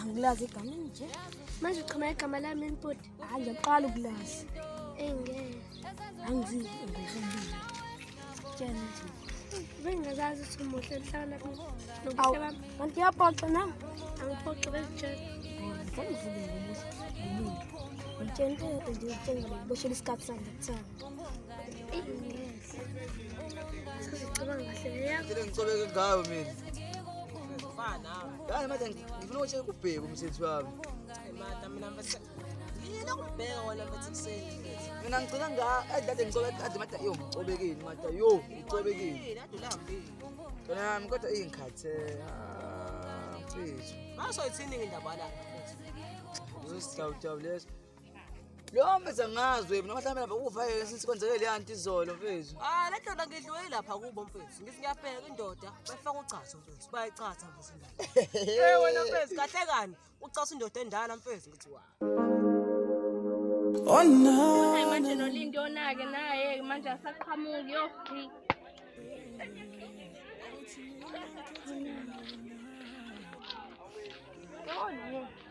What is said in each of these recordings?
angilazi igama nje manje uqhama igama lami empoti hayi ngiyaqala ukulazi engeke angizivi ngizobili tshena nje bengazazi ukuthi umuhle mhlawumbe nobuhle bami kanti uyaphoxa nam angiphoxi bezitshela ngangivule ngomuntu ngitshela into yodwa nje ngitshela ngiboshelwe isikhathi sami ngithanda ngicobeke ngayo mina yani manje ngifuna ukuthi kubheke umsebenzi wami mina ngicela nga edlade ngicobe kade mada yo ngicobekile mada yo ngicobekile kona yami kodwa ingikhathe mfethu ah, basoyithini indaba la uzosihlawuhlawulesa Lo mfethu angazwe mina mhlawumbe lapha ukufa yena since kwenzeke le anti izolo mfethu. Ah le ndoda ngidliwe lapha kubo mfethu. Ngithi ngiyabheka indoda bafaka uchazo mfethu. Bayichatha mfethu indoda. Eh wena mfethu kahle kani ucasa indoda endala mfethu ngithi wa. Oh no. Hayi manje noLindi onake naye manje asaqhamuki yofi. Oh no.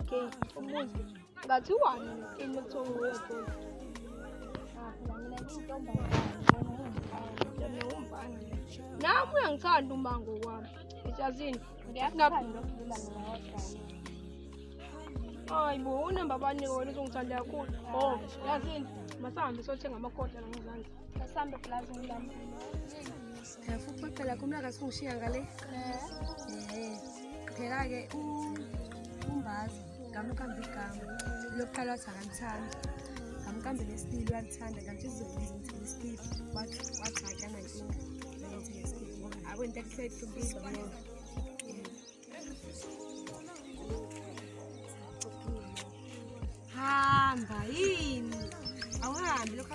Okay, umuzi. Ngathi wani into okuthiwa uwebholi. Ah, phela mina ngintombazane. Nami uyangithanda umango wami. Ejazini. Hayi bo, unamba bani wena uzongithanda kakhulu. Oh, yazini. Masahambe sothenga amakhoda la ngezansi. Masahambe plaza ngilami. Ngiyafuphoqela kumlaka singishiya ngale. Eh. Phela ke umbazi ngamukamba igama. Lokuqala wathi akamthandi. Ngamukamba lesibili walithanda kanti izolo izithini isibili wathi wathi akana inkinga. Ngithini isibili. Abo into ekuhleli kubiza ngoba. Hamba yini? Awuhambi lokho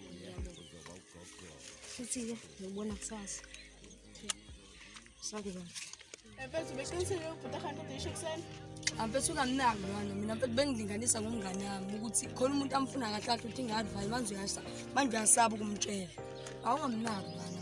Futhi-ke ngiyobona kusasa. Sakuba. Mfethu beqinisile ubhuti ahamba kodwa isho ekuseni. Amfethu ungamnaki lona mina mfethu bengilinganisa ngomngane wami ukuthi khona umuntu amfuna kahle kahle uthi ngadvali manje uyasa manje uyasaba ukumtshela. Awungamnaki lona.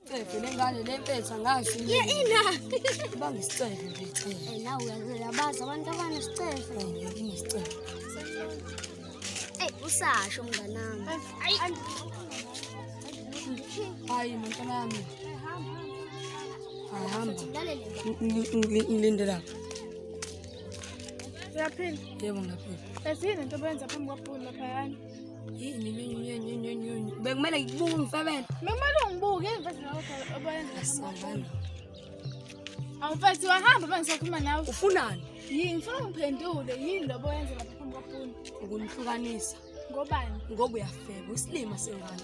Cefe lengane lempetha ngazi. Ye ina. Banga isicefe nje cefe. Eh nawe uyabazi abantu abana sicefe. Ngiyini isicefe. Ey usasho mnganami. Ayi. Hayi mntanami. Ahamba. Ngilinde lapha. Uyaphila? Yebo ngiyaphila. Ezini into obenza phambi kwabhulu laphayana. bekumele ngikubuke umfebela bekumele ungibuke awufethi wahamba uma ngisakhuluma nawe ufunani yini ngifuna ungiphendule yini lobo yenze lapha phambi kwapuni ukunihlukanisa ngobani ngoba uyafeba isilima sengane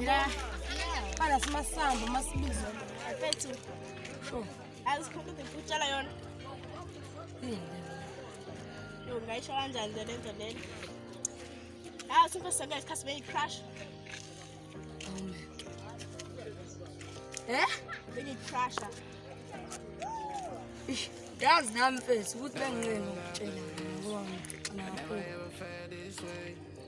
Yeah. Bana simasambo masibizo. Afethu. Sure. Azikhona ukutshela yona. Yo ngayisho kanjani le nto lena? Ah, super sanga isikhathi beyi crash. Eh? Beyi crash. Yazi nami mfethu ukuthi benginqeni ukutshela ngoba ngicina kakhulu.